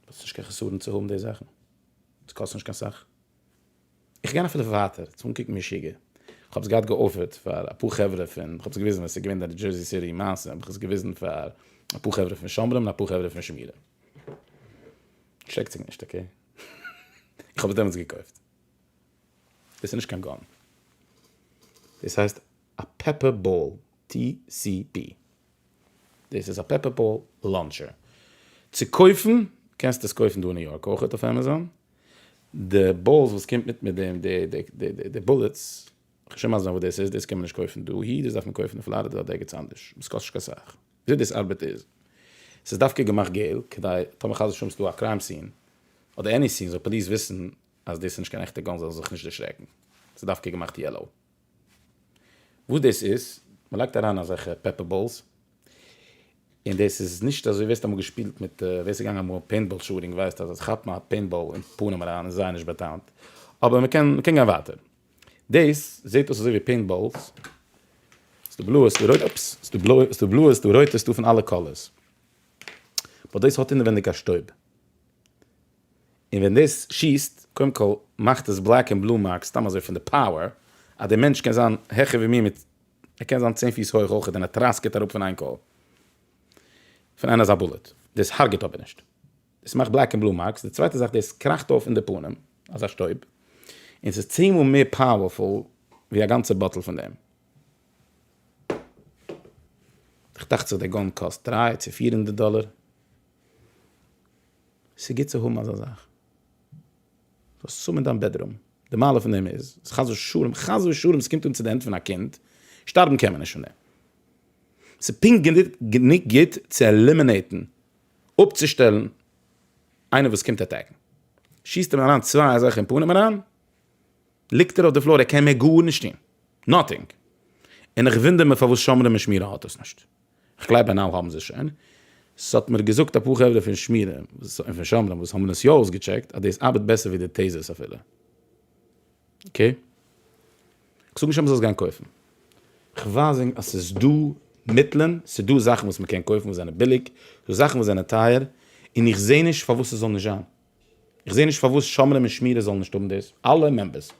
האסט נישט קיין חסרון צו האבן די זאכן, עס קאסט נישט קיין סאך. איך גיי אפילו ווייטער, צו אנקוקן משוגע. איך האב עס געהאט געאפערט פאר אפאר חברה פון, איך האב עס געוויזן ווען עס איז געווען די דזשערסי סיטי מעשה, האב איך עס געוויזן פאר אפאר חברה פון שומרים און אפאר חברה פון שמירה. ערשרעקט זיך נישט, אקעי? איך האב עס דעמאלטס געקויפט. דאס איז נישט קיין גאן. דאס הייסט. א פעפער באל TCB. דאס איז א פעפער באל לאנטשער. צו קויפן קענסטו עס קויפן דא אין ניו יארק אויכעט אויף עמעזאן. די באלס וואס קומט מיט מיט די בולעטס, כ'שוין מזל זיין וואס דאס איז, דאס קען מען נישט קויפן דאהי, דאס דארף מען קויפן אין פלארידע אדער דער גוטס אנדערש. עס קאסט נישט קיין סאך. וויאזוי דאס ארבעט איז, עס איז דווקא געמאכט געל כדי טאמער חס ושלום עס איז דא א קריים סין אדער עני סין זאל פאליס וויסן אז דאס איז נישט קיין עכטע גאן זאל זיך נישט דערשרעקן. עס איז דווקא געמאכט יעלאו. וואס דאס איז, מען לייגט אריין אזעלכע פעפער באלס, און דאס איז נישט אזוי, ווער ס'האט אמאל געשפילט מיט, ווער ס'איז געגאנגען אמאל פעינטבאל שוטינג ווייסט אז עס כאפט מען א פעינטבאל אין פנים אריין איז זייער נישט באטאמט, אבער מען קען גיין ווייטער, דאס זעט אויס אזוי ווי פעינטבאלס, ס'דא בלויע ס'דא רויטע, אופס, ס'דא בלויע ס'דא בלויע ס'דא רויטע ס'דא פון אלע קאלערס, באט דאס האט אינעווייניג א שטויב. און ווען דאס שיסט, קודם כל מאכט עס בלעק און בלו מארקס סתם אזוי פון די פאוער, אז דער מענטש קען זיין העכער ווי מיר מיט, ער קען זיין צען פיס הויך אויכעט און ער טראסקעט אראפ פון איין קול פון איין אזא בולעט, דאס הרג'ט אבער נישט, דאס מאכט בלעק און בלו מארקס, די צווייטע זאך דאס קראכט אויף אין די פנים אזא שטויב, און ס'איז צען מאל מער פאוערפול ווי א גאנצע באטל פון דעם. איך דאכט זיך דער גאן קאסט דרײַ צו פֿיר הונדערט דאלער. ס'איז גוט צו האבן אזא זאך, זאלסט עס האבן אין דיין בעדרום, די מעלה פון דעם איז אז חס ושלום, חס ושלום ס'קומט אן צו די הענט פון א קינד, שטארבן קען מען נישט פון דעם, ס'איז פונקט גענוג גוט צו עלימינעיטן, אפצושטעלן, איינער וואס קומט עטעקן, שיסט אים אריין צוויי אזעלכע אין פנים אריין, ליגט ער אויף די פלאר ער קען מער גארנישט טון, נאטינג, און איך וואונדער מיר פארוואס שומרים ושמירה האט עס נישט. כ'גלייב הנל האבן זיי שוין. ס'האט מיר געזאגט אפאר חברה פון שמירה און פון שומרים וואס האבן עס יא אויסגעטשעקט אז דאס ארבעט בעסער ווי די טעזערס אפילו. אקעי. כ'זאג נישט אז מ'זאל עס גיין קויפן. כ'ווייזענג אז ס'איז דא מיטלען, ס'איז דא זאכן וואס מ'קען קויפן וואס זענען ביליג, ס'איז דא זאכן וואס זענען טייער, און איך זעה נישט פארוואס ס'זאל נישט זיין. איך זעה נישט פארוואס שומרים און שמירה זאלן נישט האבן דאס, אלע מעמבערס.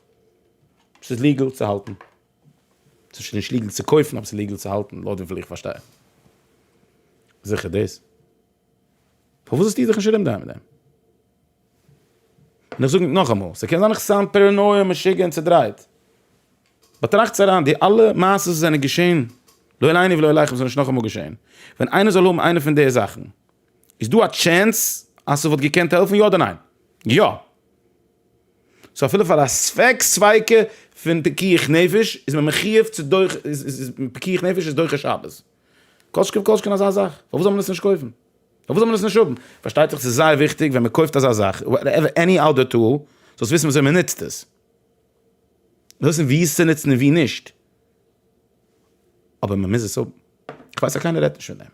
ס'איז ליגעל צו האלטן. ס'שוין נישט ליגעל צו קויפן אבער ס'איז ליגעל צו האלטן לויט וויפיל איך פארשטיי. זיכער דאס. פארוואס האסטו דיך נישט ארום דרייען מיט דעם? און איך זאג נאכאמאל, ס'קען זיין איך סאונד פערענויע, משוגע און צודרייט. באטראכטס אריין, די אלע מעשות וואס זענען געשען, לא עלינו ולא עליכם, זאל נישט נאכאמאל געשען. ווען איינער זאל האבן איינע פון די זאכן, איז דא א טשענס אז ס'וואלט געקענט העלפן, יא אדער ניין? יא! סאו אפילו פאר א ספק ספיקא פון פיקוח נפש איז מען מחיוב צו דוחה, פיקוח נפש איז דוחה שבת. כל שכן וכל שכן אזא זאך, פארוואס זאל מען עס נישט קויפן? פארוואס זאל מען עס נישט האבן? פארשטייט זיך ס'איז זייער וויכטיג ווען מ'קויפט אזא זאך, וואטעווער עני אדער טול, זאלסט וויסן וויאזוי מ'נוצט עס. זאלסט וויסן וואו עס צו נוצן און וואו נישט. אבער מ'מוז עס האבן. כ'ווייס אז קיינער רעדט נישט פון דעם.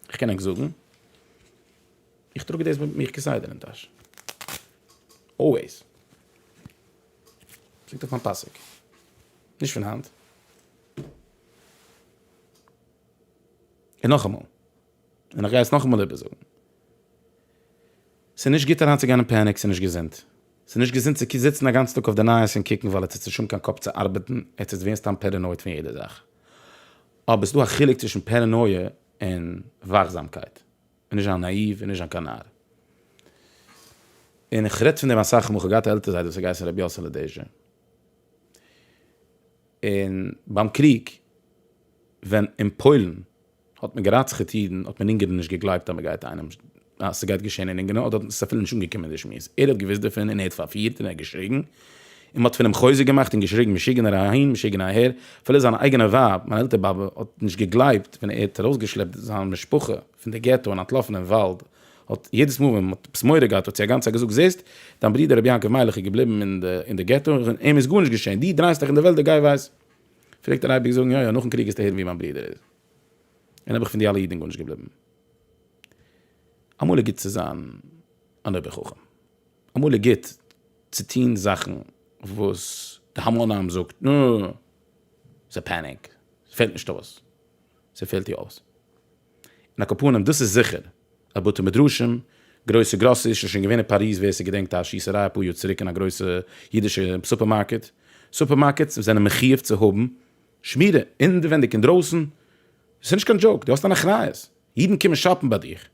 כ'קען ענק זאגן. איך טראג דאס מיט מיך כסדר אין טאש. אלוועיס. ליגט אויף מיין פאסיק. נישט פון היינט. און נאכאמאל. און איך גיי עס נאכאמאל איבערזאגן. ס'נישט גוט אריינצוגיין אין פעניק, ס'נישט געזונט. ס'נישט געזונט צו זיצן א גאנצן טאג אויף די נייעס און קוקן ווייל עטס האט נישט אן קיין קאפ צו ארבעטן, עטס ווערט סתם פערענויד פון יעדע זאך. אבער ס'דא א חילוק צווישן פערענויע און וואכזאמקייט. און נישט זיין נאאיוו און נישט זיין קיין נאר. און כ'רעדט פון דעם אסאך מאל, כ'האב געהאט א עלטער זיידע וואס האט געהייסן רבי יאסעלע דעזשע. און ביים קריג ווען אין פוילן האט מען גערצח'עט אידן האט מען אונגערן נישט געגלייבט אז מ'גייט איינעם אז ס'גייט געשען אין אונגערן אדער האט עס אפילו נישט אנגעקומען די שמועס. ער האט געוואוסט דערפון און ער האט פארפירט און ער האט געשריגן און מ'האט פון אים חוזק געמאכט און געשריגן משוגענער אהין משוגענער אהער, אפילו זיין אייגענע ווייב, מיין עלטער באבע, האט נישט געגלייבט ווען ער האט ארויסגעשלעפט זיין משפחה פון די געטא און אנטלאפן אין וואלד, האט יעדעס מאל ווען מ'האט עפעס מורא געהאט האט זי אגאנצייט געזאגט זעסט, דיין ברודער רבי יעקב מיילעך איז געבליבן אין די געטא און אים איז גארנישט געשען, דו דרייסט דיך אין די וועלט די גיי ווייס. פלעגט ער אייביג זאגן יא יא נאכן קריג גייסטו הערן ווי מיין ברודער איז און אויב איך פון די אלע אידן גארנישט געבליבן. אמאל איז גוט צו זיין אן אויבער חכם. אמאל איז גוט צו טון זאכן וואס די המון עם זאגט נע, ס'איז פעניק, ס'פעלט נישט אויס, ס'פעלט יא אויס. און ע כ פנים דאס איז זיכער אז בתי מדרשים, גרויסע גראסעריס, ס'איז שוין געווען אין פאריז ווער ס'געדענקט א שיסעריי אפאר יאר צוריק אין א גרויסע אידישע סופערמארקעט, סופערמארקעטס זענען מחיוב צו האבן שמירה אינווענדיג אינדרויסן, ס'איז נישט קיין דזשאוק, דו האסט אן אחריות, אידן קומען שאפן ביי דיך.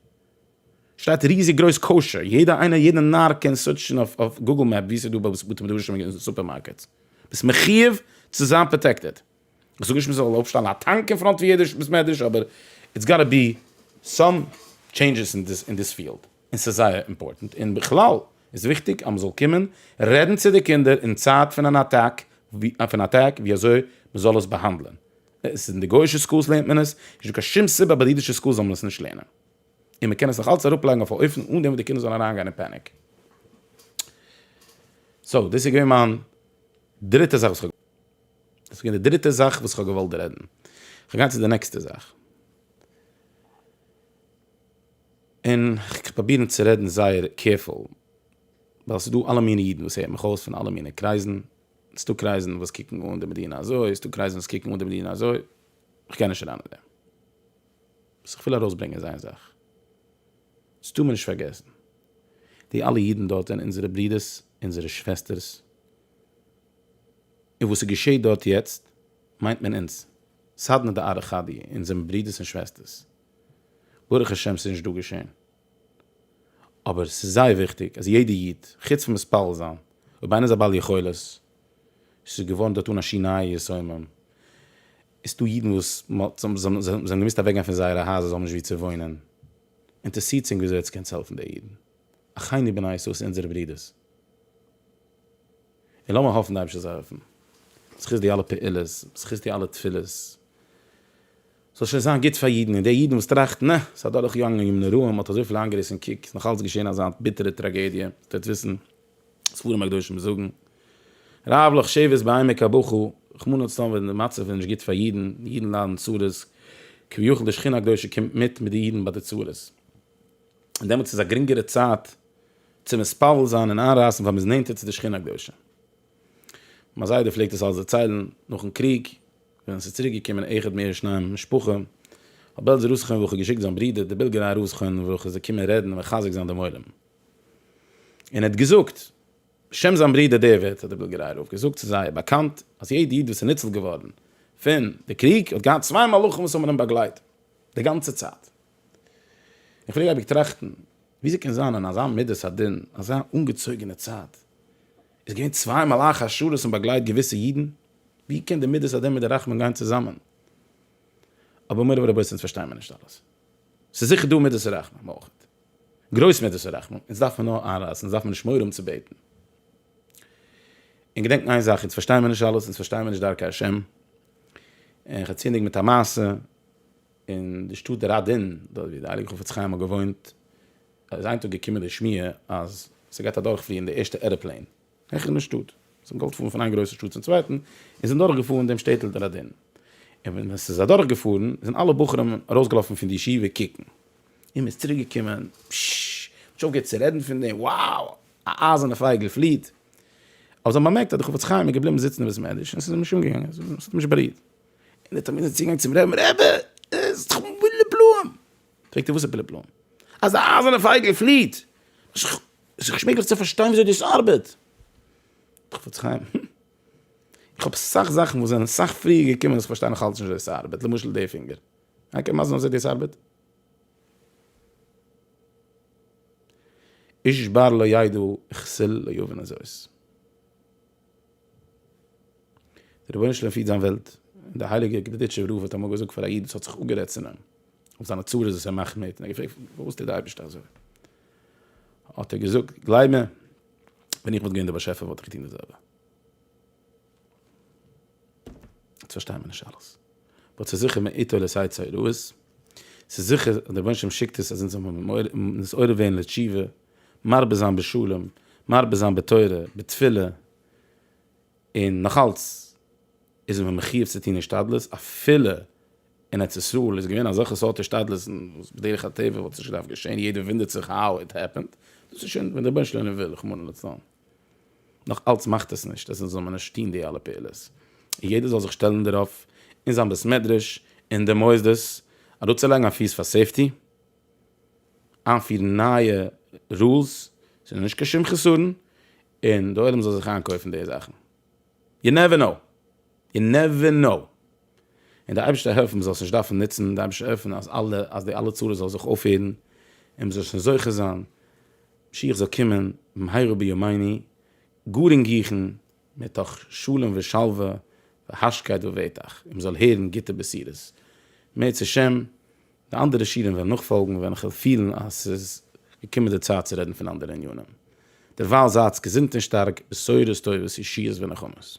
שטייט ריזיג גרויס כשר, יעדע איינער יעדע נאר קען סוירטשן אויף גוגל מעפ ווי ס'איז דא בתי מדרשים און סופערמארקעטס, ביסט מחיוב צו זיין פראטעקטעד, איך זאג נישט מ'זאל אויפשטעלן א טאנק אין פראנט פון יעדע בית מדרש אבער איטס גאטע בי סאם טשעינדזשעס אין דיס אין דיס פיעלד און ס'איז זייער אימפארטענט און בכלל איז וויכטיג אז מ'זאל קומען רעדן צו די קינדער אין צייט פון אן אטאק פון אטאק ווי אזוי מ'זאל עס באהאנדלען, עס איז אין די גוי'אישע סקולס לערנט מען עס, נישטא קיין שום סיבה אז ביי די אידישע סקולס זאל מען עס נישט לערנען. און מען קען עס נאך אלץ אראפלייגן אויף א אופן אן דעם וואס די קינדער זאלן אריינגיין אין פעניק. סאו דאס איז געווען מיין דריטע זאך וואס כ'האב, דאס איז געווען די דריטע זאך וואס כ'האב געוואלט רעדן. כ'וועל גיין צו די נעקסטע זאך. און כ'קען פראבירן צו רעדן זייער קעירפול, ווייל ס'איז דא אלע מינע אידן וואס הערט מיך אויס פון אלע מינע קרייזן, ס'איז דא קרייזן וואס קוקן אן די מדינה אזוי, ס'איז דא קרייזן וואס קוקן אן די מדינה אזוי, כ'גיי נישט אריין אין דעם. וואס איך וויל ארויסברענגען איז איין זאך, עס טאר מען נישט פארגעסן, די אלע אידן דארט זענען אונזערע ברודערס, אונזערע שוועסטערס, און וואס ס'געשעהט דארט יעצט, מיינט מען אונז, סדנא דארעא חדי, אונז זעמיר ברודערס און שוועסטערס, ברוך השם ס'איז נישט דא געשעהן, אבער ס'איז זייער וויכטיג אז יעדע איד, חוץ פון מתפלל זיין, אויב איינער איז א בעל יכולת, ס'איז געווארן דארט אן א שינוי שמים, עס איז דא אידן וואס זיי האבן געמוזט אוועקגיין פון זייערע הייזער, זיי האבן נישט וואו צו וואוינען, אינטערעסירט זינג וויאזוי עטס קענטס העלפן די אידן, אחינו בני ישראל ס'איז אונזערע ברידערס, און לאמיר האפן די אייבערשטער זאל העלפן, בזכות די אלע פעולות, בזכות די אלע תפילות. ס'זאל שוין זיין גוט פאר אידן, און די אידן וואס טראכטן, אה, ס'איז אדורך געגאנגען ימים נוראים, האט אזויפיל איינגעריסן, קוק, ס'איז נאך אלץ געשען אזא ביטערע טראגעדיע, איר טוט וויסן, ספרים הקדושים זאגן, רב לך שבט בעמק הבכא, רחמנא לצלן ווען די מצב איז נישט גוט פאר אידן, אידן ליידן צרות, כביכול די שכינה הקדושה קומט מיט מיט די אידן ביי די צרות. און דעמאלטס איז א גרינגערע צייט צו מתפלל זיין און איינרייסן ווייל מ'איז נענטער צו די שכינה הקדושה. מיין זיידע פלעגט עס אלס דערציילן נאכן קריג ווען עס איז צוריק געקומען אחד מער שניים משפחה האט בעלזער ר' חיים ברוך געשיקט זיין ברודער די בילגעריי ר' חיים ברוך איז געקומען רעדן און מחזק זיין דעם עולם און ער האט געזאגט בשם זיין ברודער די ווערטער האט די בילגעריי רב געזאגט ס'איז זייער באקאנט אז יעדע איד וואס איז ניצל געווארן פון די קריג האט געהאט צוויי מלאכים וואס האבן אים באגלייט די גאנצע צייט. איך פלעג אייביג טראכטן וויאזוי קען זיין אין אזא מדת הדין אזא אנגעצויגענע צייט איז געווען צוויי מלאכי השרת און באגלייט געוויסע אידן, ווי קען די מדת הדין מיט די רחמים גיין צוזאמען? אבער מורי ורבותי אונז פארשטיי מיר נישט אלעס, ס'איז זיכער דא מדת הרחמים אויך, גרויס מדת הרחמים, אונז דארף מען נאר איינרייסן, אונז דארף מען נישט מורא האבן צו בעטן. און געדענקן איין זאך, אונז פארשטיי מיר נישט אלעס, אונז פארשטיי מיר נישט דרכי השם, און כ'עצינדיג מיט א מעשה, אין די שטאט ראדין, דארט ווי די הייליגע חפץ חיים האט געוואוינט, איז איין טאג געקומען די שמועה אז ס'גייט אדורכפליען די ערשטע עראפלעין העכער אין די שטאט, זיי האבן געוואלט פארן פון איין גרויסע שטאט צום צווייטן, און זענען דורכגעפארן דעם שטעטל ראדין, און ווען עס איז אדורכגעפארן זענען אלע בחורים ארויסגעלאפן פון די ישיבה קוקן, און מ'איז צוריק געקומען, פששש, מ'האט נישט אויפגעהערט צו רעדן פון דעם, wow! א אייזערנע פייגל פליעט! אבער זיי האבן באמערקט אז דער חפץ חיים איז געבליבן זיצן אין בית מדרש און עס איז אים נישט אנגעגאנגען, עס האט אים נישט בארירט. און ער האט אמית'ן צוגאנג צום רעבן, רעבע, עס איז דאך בלע בלעים! פרעגט ער וואס איז בלע בלעים? אז א אייזערנע פייגל פליעט! איז דאך שווער צו פארשטיין וויאזוי דאס ארבעט! חפץ חיים, הום. איך האב אסאך זאכן וואס זענען אסאך פריער געקומען וואס איך פארשטיי נאך אלץ נישט וויאזוי עס ארבעט, למשל די פינגער. איינער קען מסביר זיין וויאזוי דאס ארבעט? איש בר לא ידע כסל לא יבין זאת. דער רבונו של עולם פירט זיין וועלט, און דער הייליגער גדודיטשוב רב האט אמאל געזאגט פאר א איד וואס האט זיך אפגערעדט צו אים אויף זיינע צרות וואס ער מאכט מיט, און ער האט געפרעגט פארוואס טוט דער אייבערשטער אזוי, האט ער געזאגט, גלייב מיר, ווען איך וואלט געווען דער באשעפער וואלט איך געטון דאס זעלבע. יעצט פארשטייען מיר נישט אלעס, באט ס'איז זיכער מאיתו לסיי צרות, ס'איז זיכער אז דער רבונו של עולם שיקט עס אז אונז זאלן ווערן נתעורר ווערן לתשובה, מרבה זיין בשלום, מרבה זיין בתורה, בתפילה, און נאך אלץ איז מען מחיוב צו טון השתדלות, אפילו אין ארץ ישראל איז געווען אזעלכע סארט השתדלות'ן וואס בדרך הטבע וואלט נישט געדארפט געשען, יעדער וואונדערט זיך האו איט העפענד, דאס איז שוין ווען דער בנש לנו וויל, רחמנא לצלן. נאך אלץ מאכט עס נישט אז אונז זאל מען נישט טון די אלע פעולות, און יעדער זאל זיך שטעלן דערויף, אין זיין בית מדרש, אין די מוסדות, אראפצולייגן א פיס פאר סעיפטי, איינפירן נייע רולס ס'איז נישט קיין שום חסרון און די עולם זאל זיך איינקויפן די זאכן, יו נעווער קנאו, יו נעווער קנאו, און די אייבערשטער העלפן מען זאל עס נישט דארפן נוצן, די אייבערשטער העלפן אז אלע אז די אלע צרות זאל זיך אויפהערן און מען זאל שוין זוכה זיין משיח זאל קומען במהרה בימינו גאר אינגיכן מתוך שלום ושלווה והשקט בביתך און מען זאל הערן גוטע בשורות מערצעשעם די אנדערע שיעורים וועלן נאכפאלגן ווען איך וועל פילן אז ס'איז געקומען די צייט צו רעדן פון אנדערע ענינים. דערווייל זייטס געזונט און שטארק, בשורות טובות, ישועות ונחמות.